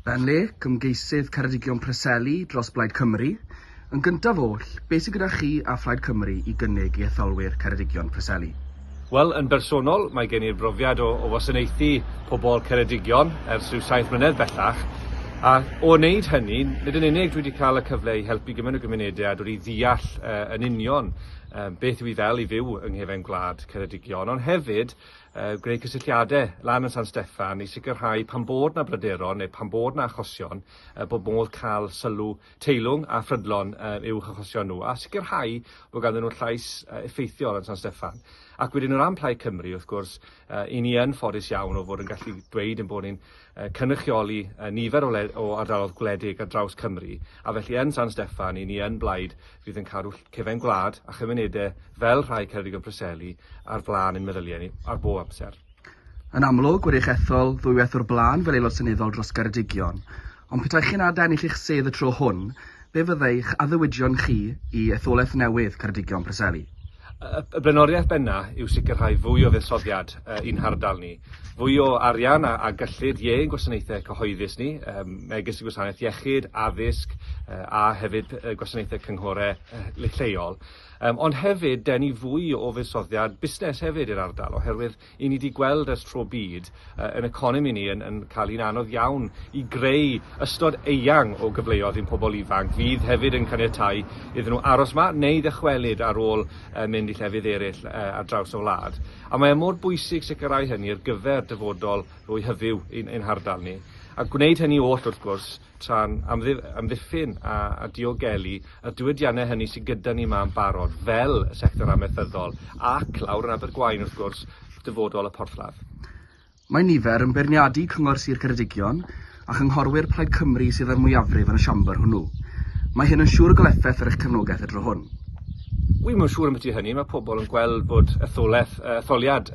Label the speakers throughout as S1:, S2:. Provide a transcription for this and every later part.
S1: Ben Lake, ymgeisydd Ceredigion Preseli dros Blaid Cymru, Yn gyntaf oll, be sy gyda chi a Phlaid Cymru i gynnig i etholwyr Ceredigion Preseli? Wel, yn bersonol, mae gen i'r brofiad o o wasanaethu pobl Ceredigion ers rhyw saith mlynedd bellach, a o wneud hynny, nid yn unig dwi wedi cael y cyfle i helpu gymaint o gymunedau a dod i ddeall yn union beth yw hi fel i fyw yng nghefen gwlad Ceredigion, ond hefyd, greu cysylltiadau lan yn San Steffan i sicrhau pan bod na bryderon neu pan bod na achosion uh, bod modd cael sylw teilwng a phrydlon uh, i'w hachosion nhw a sicrhau bod ganddyn nhw'n llais uh, effeithiol yn San Steffan. Ac wedyn o ran Plaid Cymru, wrth gwrs, uh, i ni yn ffodus iawn o fod yn gallu dweud yn bod ni'n uh, cynrychioli uh, nifer o, o ardalodd gwledig ar draws Cymru, a felly yn San Steffan, i ni yn blaid fydd yn cadw cefn gwlad a chymunedau fel rhai Ceredigion Preseli ar flaen ein meddyliau ni ar bob amser. Yn amlwg, wedi'ch ethol ddwywaith o'r blaen fel Aelod Seneddol dros Geredigion, ond petai chi'n âd ennill eich sedd y tro hwn, be fyddai'ch addewidion chi i etholaeth newydd Ceredigion Preseli? Y blaenoriaeth bennaf yw sicrhau fwy o fuddsoddiad i'n hardal ni, fwy o arian a gyllid i ein gwasanaethau cyhoeddus ni, megis y gwasanaeth iechyd, addysg a hefyd gwasanaethau cynghorau lleol. Ond hefyd denu fwy o fuddsoddiad busnes hefyd i'r ardal oherwydd 'yn ni 'di gweld ers tro byd yy yn economi ni yn yn ca'l 'i'n anodd iawn i greu ystod eang o gyfleodd i'n pobol ifanc fydd hefyd yn caniatáu iddyn nhw aros 'ma neu ddychwelyd ar ôl yy mynd i llefydd eryll yy ar draws y wlad. A mae e mor bwysig sicrhau hynny ar gyfer dyfodol fwy hyfyw i'n ein hardal ni. A gwneud hynny oll, wrth gwrs, tra'n amddiffyn a diogelu y diwydiannau hynny sydd gyda ni yma yn barod, fel y sector amaethyddol ac, lawr yn Abergwaun wrth gwrs, dyfodol y porthladd. Mae nifer yn beirniadu Cyngor Sir Ceredigion a chynghorwyr Plaid Cymru sydd â'r mwyafrif yn y Siambr hwnnw. Mae hyn yn siŵr o gael effaith ar eich cefnogaeth y tro hwn. Wi ddim yn siŵr ambiti hynny. Mae pobl yn gweld bod etholaeth, etholiad,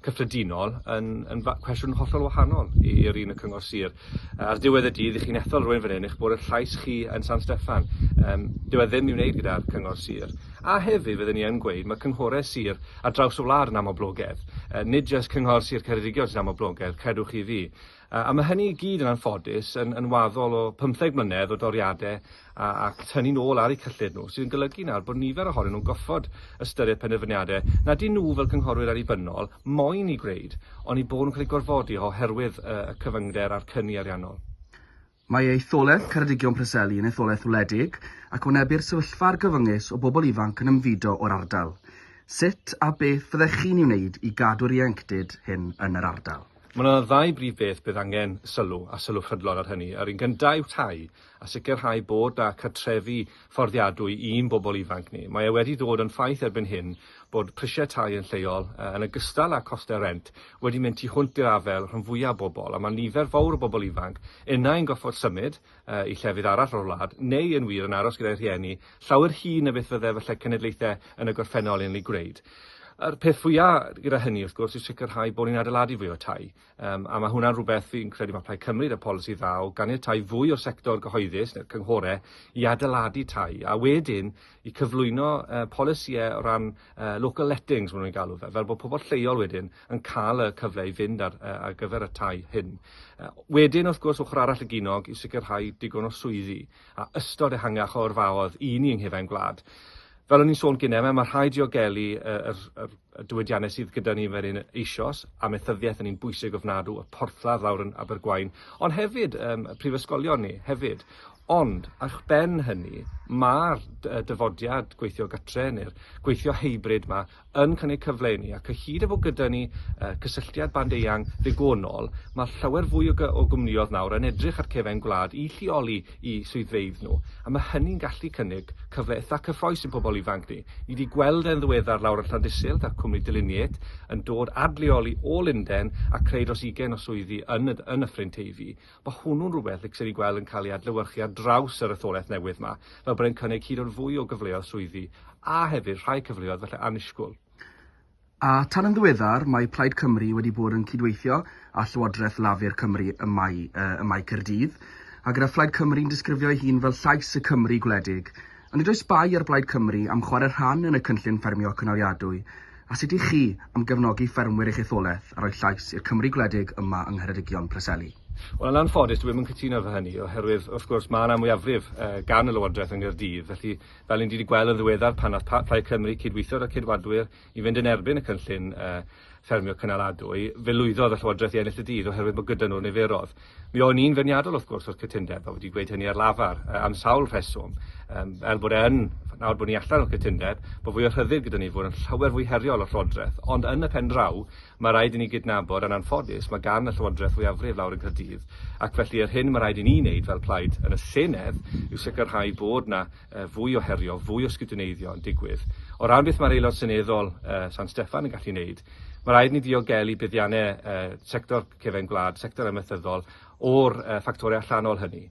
S1: cyffredinol yn yn fa- cwestiwn hollol wahanol i i'r un y cyngor sir. Yy, Ar ddiwedd y dydd, i chi'n ethol rwy'n fan hyn, eich bod eich llais chi yn San Steffan. Yym, dyw e ddim i wneud gyda'r cyngor sir. A hefyd, fydden ni yn gweud, mae cynghorau sir ar draws y wlad yn aml blogedd. Yy, nid jyst cyngor Sir Ceredigion sy'n aml blogedd, credwch chi fi. A mae hynny i gyd yn anffodus yn, yn waddol o pymtheg mlynedd o doriadau a, ac tynnu nôl ar eu cyllid nhw, sydd yn golygu nawr bod nifer ohonyn nhw'n goffod ystyried penderfyniadau na dyn nhw fel cynghorwyr annibynnol moyn i gwneud, oni bod nhw'n cael eu gorfodi oherwydd y cyfyngder a'r cyni ariannol. Mae etholaeth Ceredigion Preseli yn etholaeth wledig ac wynebir sefyllfa argyfyngus o bobl ifanc yn ymfudo o'r ardal. Sut a beth fyddech chi'n ei wneud i gadw'r ieuenctid hyn yn yr ardal? Mae yna ddau brif beth bydd angen sylw, a sylw prydlon ar hynny. Yr un gyntaf yw tai, a sicrhau bod 'na cartrefi fforddiadwy i'n bobl ifanc ni. Mae e wedi dod yn ffaith erbyn hyn bod prisiau tai yn lleol, yn ogystal â chostau rent, wedi mynd tu hwnt i'r afael rhan fwyaf bobl, a mae nifer fawr o bobl ifanc unai'n gorfod symud i llefydd arall o'r wlad, neu yn wir yn aros gyda'u rhieni, llawer hŷn na beth fydde falle cenedlaethau yn y gorffennol yn ei gwneud. A'r peth fwyaf gyda hynny, wrth gwrs, yw sicrhau bod ni'n adeiladu fwy o tai. Um, a mae hwnna'n rhywbeth fi'n credu mae Plaid Cymru y polisi dda o ganiatau fwy o'r sector gyhoeddus neu'r cynghorau i adeiladu tai a wedyn i cyflwyno uh, polisïau o ran uh, local lettings, maen nhw'n galw fe, fel bod pobl lleol wedyn yn cael y cyfle i fynd ar, uh, ar gyfer y tai hyn. Uh, wedyn, wrth gwrs, ochr arall y ginog i sicrhau digon o swyddi. a ystod ehangach o yrfaodd i ni yng nghufen gwlad. Fel o'n i'n sôn gyne, mae ma' rhai diogelu yy yr yr y diwydianne sydd gyda ni fel un eisoes, amaethyddiaeth yn un bwysig ofnadw, y porthladd lawr yn Abergwaun, ond hefyd yym y prifysgolion ni hefyd. Ond, a'ch ben hynny, ma'r dy- yy dyfodiad gweithio gytre neu'r gweithio hybrid 'ma yn cynnig cyfle i ni, ac o hyd a fo gyda ni yy cysylltiad band eang ddigonol, ma' llawer fwy o gy- o gwmnïodd nawr yn edrych ar cefen gwlad i lleoli 'u swyddfeydd nhw, a ma' hynny'n gallu cynnig cyfle itha cyffrous i'n pobl ifanc ni. Ni 'di gweld e'n ddiweddar lawr yn Llandysul 'da cwmni Delineate yn dod ad leoli o Lunden a creu dros ugain o swyddi yn y yn Nyffryn Teifi, Mae hwnnw'n rhywbeth y gallwn ni weld yn cael ei adlewyrchu ar draws yr etholaeth newydd yma, fel bod e'n cynnig hyd yn fwy o gyfleoedd swyddi, a hefyd rhai cyfleoedd falle annisgwyl. A tan yn ddiweddar, mae Plaid Cymru wedi bod yn cydweithio â Llywodraeth Lafur Cymru ym Mae ym Mae Caerdydd, a gyda Phlaid Cymru'n disgrifio ei hun fel llais y Cymry gwledig, A nid oes bai ar Blaid Cymru am chwarae rhan yn y cynllun ffermio cynaliadwy, a sut i chi am gefnogi ffermwyr eich etholaeth a rhoi llais i'r Cymru gwledig yma yng Ngheredigion Preseli? Wel, yn anffodus, dwi ddim yn cytuno efo hynny, oherwydd, wrth gwrs, mae 'na mwyafrif gan y Lywodraeth yng Nghaerdydd, felly, fel ni'n wedi gweld yn ddiweddar pan wnaeth Plaid Cymru cydweithio 'da Ceidwadwyr I fynd yn erbyn y cynllun ffermio cynaladwy, fe lwyddodd y Llywodraeth i ennill y dydd oherwydd bod gyda nhw'r niferoedd. Mi o'n i'n feirniadol wrth gwrs o'r cytundeb a wedi gweud hynny ar lafar am sawl rheswm, fel bod e yn, nawr bod ni allan o'r cytundeb, bod fwy o rhyddid gyda ni, fod yn llawer fwy heriol o'r Llywodraeth, ond yn y pen draw, mae rhaid i ni gydnabod, yn anffodus, mae gan y Llywodraeth fwyafrif lawr yn Caerdydd, ac felly yr hyn mae rhaid i ni wneud fel plaid yn y Senedd yw sicrhau bod 'na fwy o herio, fwy o sgidwneiddio yn digwydd. O ran beth mae'r Aelod Seneddol San Steffan yn gallu wneud, mae rhaid ni ddiogelu buddiannau sector cefen gwlad, sector amaethyddol, o'r ffactorau allanol hynny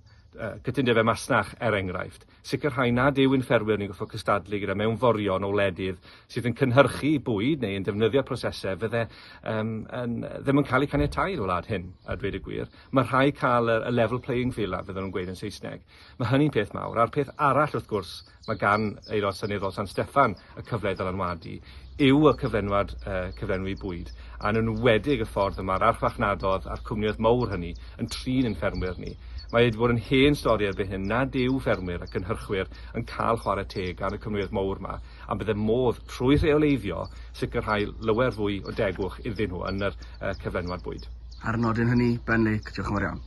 S1: cytundebau masnach, er enghraifft, sicrhau nad yw ein ffermwyr ni'n gorfod cystadlu gyda mewnforion o wledydd sydd yn cynhyrchu bwyd neu yn defnyddio prosesau fydde um, yn, ddim yn cael eu caniatau i'r wlad hyn, a dweud y gwir. Mae rhai cael y, y level playing field a fydden nhw'n gweud yn Saesneg. Mae hynny'n peth mawr. A'r peth arall, wrth gwrs, mae gan Aelod Seneddol San Steffan y cyfle i ddylanwadu, yw y cyflenwad yy cyflenwi bwyd, a yn enwedig y ffordd y mae'r archfarchnadodd a'r cwmnioedd mowr hynny yn trin ein ffermwyr ni. Mae wedi bod yn hen stori erbyn hyn nad yw ffermwyr a cynhyrchwyr yn cael chwarae teg gan y cwmnioedd mowr 'ma, a bydde modd, trwy rheoleiddio, sicrhau lawer fwy o degwch iddyn nhw yn yr yy cyflenwad bwyd. Ar y nodyn hynny, Ben Lake, diolch yn fawr iawn.